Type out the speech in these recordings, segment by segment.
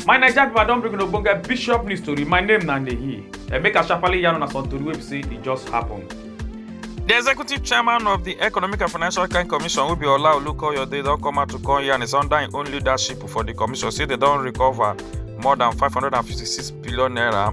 my naija pipo i don bring una ogbonge bishop news tori my name na nehi emeka sharparly yarn una some tori wey be say e just happen. di executive chairman of di economic and financial crime commission wey be ola olukoyode don come out to come yarn is under im own leadership for di commission say dem don recover more dan 556 billion naira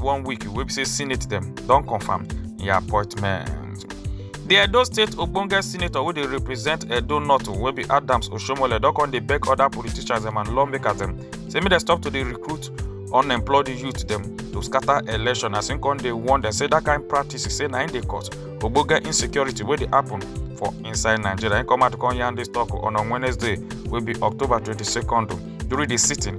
one week wey be say senate dem don confam im appointment. di edo state ogbonge senator wey dey represent edo north wey be adams oshomole don come dey beg oda politicians dem and lawmakers dem say make dem stop to dey recruit unemployed youth dem to scatter election as im come dey warn dem say dat kain practice say na im dey cause ogbonge insecurity wey dey happen for inside nigeria im come out come yarn dis tok on on wednesday wey be october 22nd during di sitting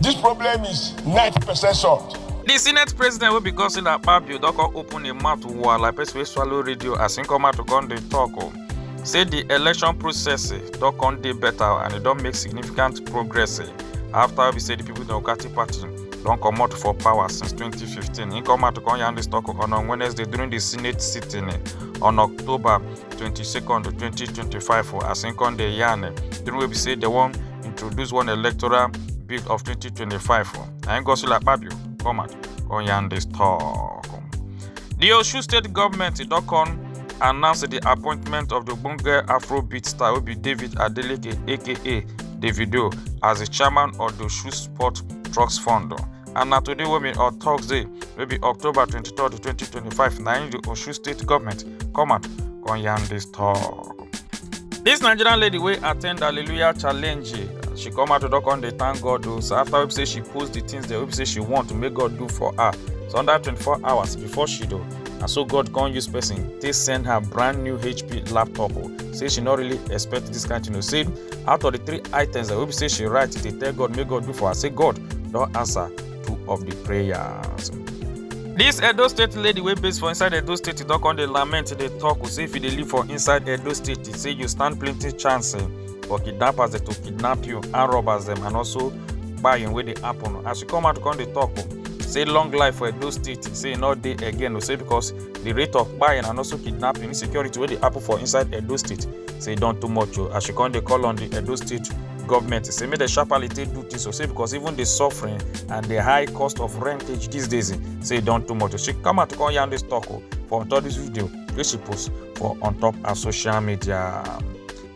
This problem is 90% solved. di senate president wey be godswill akpabio don come open im mouth wah like person wey swallow radio as im come out to come dey tok o say di election process eh, don come dey better and e don make significant progress eh, after wey be say di people democratic party don comot for power since 2015 im come out to come yarn dis tok on on wednesday during di senate sitting eh, on october 22nd 2025 o, as im come dey yarn eh, during wey be say dem wan introduce one electoral bill of 2025 for. And Gosula Pabio come out on Yande's talk. The Osun State government in Dokon announced the appointment of the Bunga Afrobeat star Obi David Adeleke aka Davido as the chairman of the Osun Sport Trucks Fund. And na today wey be on Thursday wey be October 23, 2025 na im the Osun State government come out come yarn this talk. This Nigerian lady wey attend Hallelujah challenge, she come out to don come dey thank God o. So after wey be say she post the things dem wey be say she want to make God do for her, so under 24 hours before she do, na so God come use person take send her brand new HP laptop o. Say she no really expect this kind thing o. Say out of the three items dem wey be say she write dey tell God make God do for her, say God don answer. two of the prayers. This Edo State lady wey base for inside Edo State e don come dey lament dey talk o say if you dey live for inside Edo State e say you stand plenty chance eh, for kidnappers dem to kidnap you and robbers dem and also kpayin wey dey happen as she come out come dey talk o say long life for Edo State e say e no dey again o say because the rate of kpayin and also kidnapping insecurity wey dey happen for inside Edo State say e don too much o as she come dey call on the Edo State government say make dem sharply take do this o say because even the suffering and the high cost of rentage these days eh, say e don too much she come out to come yarn this talk o oh, for on top this video wey she post for on top her social media.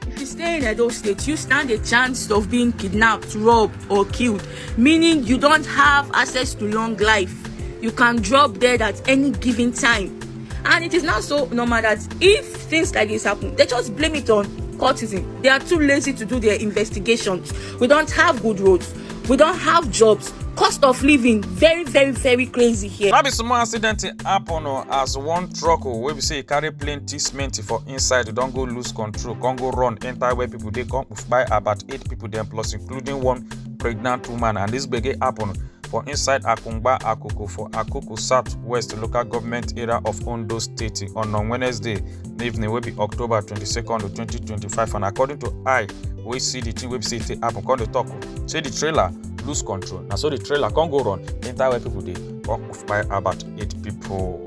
If you stay in Edo State, you stand a chance of being kidnapped, robbed, or killed, meaning you don't have access to long life. You can drop dead at any given time. And it is now so normal that if things like this happen, they just blame it on courtism. They are too lazy to do their investigations. We don't have good roads. We don't have jobs. Cost of living very, very, very crazy here. Now be small accident happen oh, as one truck oh, wey be say e carry plenty cement for inside e don go lose control come go run enter where people dey come by about eight people dem plus including one pregnant woman and this gbege happen for inside Akungba Akoko for Akoko South West local government area of Ondo State on on Wednesday evening wey be October 22nd, 2025 and according to I wey see the thing wey be say e happen come dey talk say the trailer lose control na so the trailer come go run enter where people dey come kpai about eight people.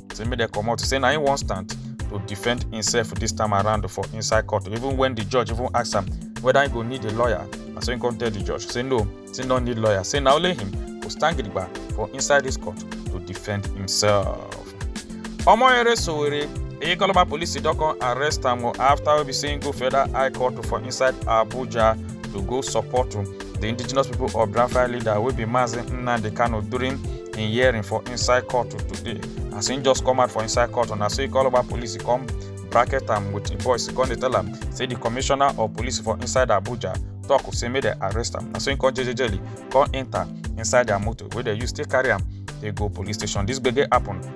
say make dem comot say na him wan stand to defend himself this time around for inside court even when the judge even ask am whether he go need a lawyer na so he come tell the judge say no say no need lawyer say na only him go stand gidigba for inside this court to defend himself. Omoyere Sowore Ikoloma police don come arrest am after we be saying go federal high court for inside Abuja to go support the indigenous people of Biafra leader wey be Mazi Nnamdi Kanu during in hearing for inside court today as im just come out for inside court na so e call over police e come bracket am with im voice e come dey tell am say di commissioner of police for inside abuja tok say make dem arrest am na so im come jejejeli come enta inside dia motor wey dem use take carry am dey go police station dis gbege happun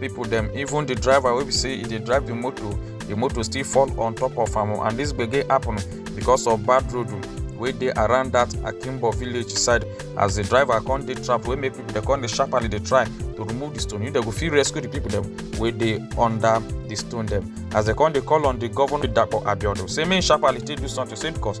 people dem even the driver wey be say e dey drive the motor the motor still fall on top of am and this gbege happen because of bad road wey dey around that akimbo village side as the driver come dey trap wey make people dey come dey sharply dey try to remove the stone you dey go fit rescue the people dem wey dey under the stone dem as dem come dey call on the governor dapo abiodun say make sharply take do something say because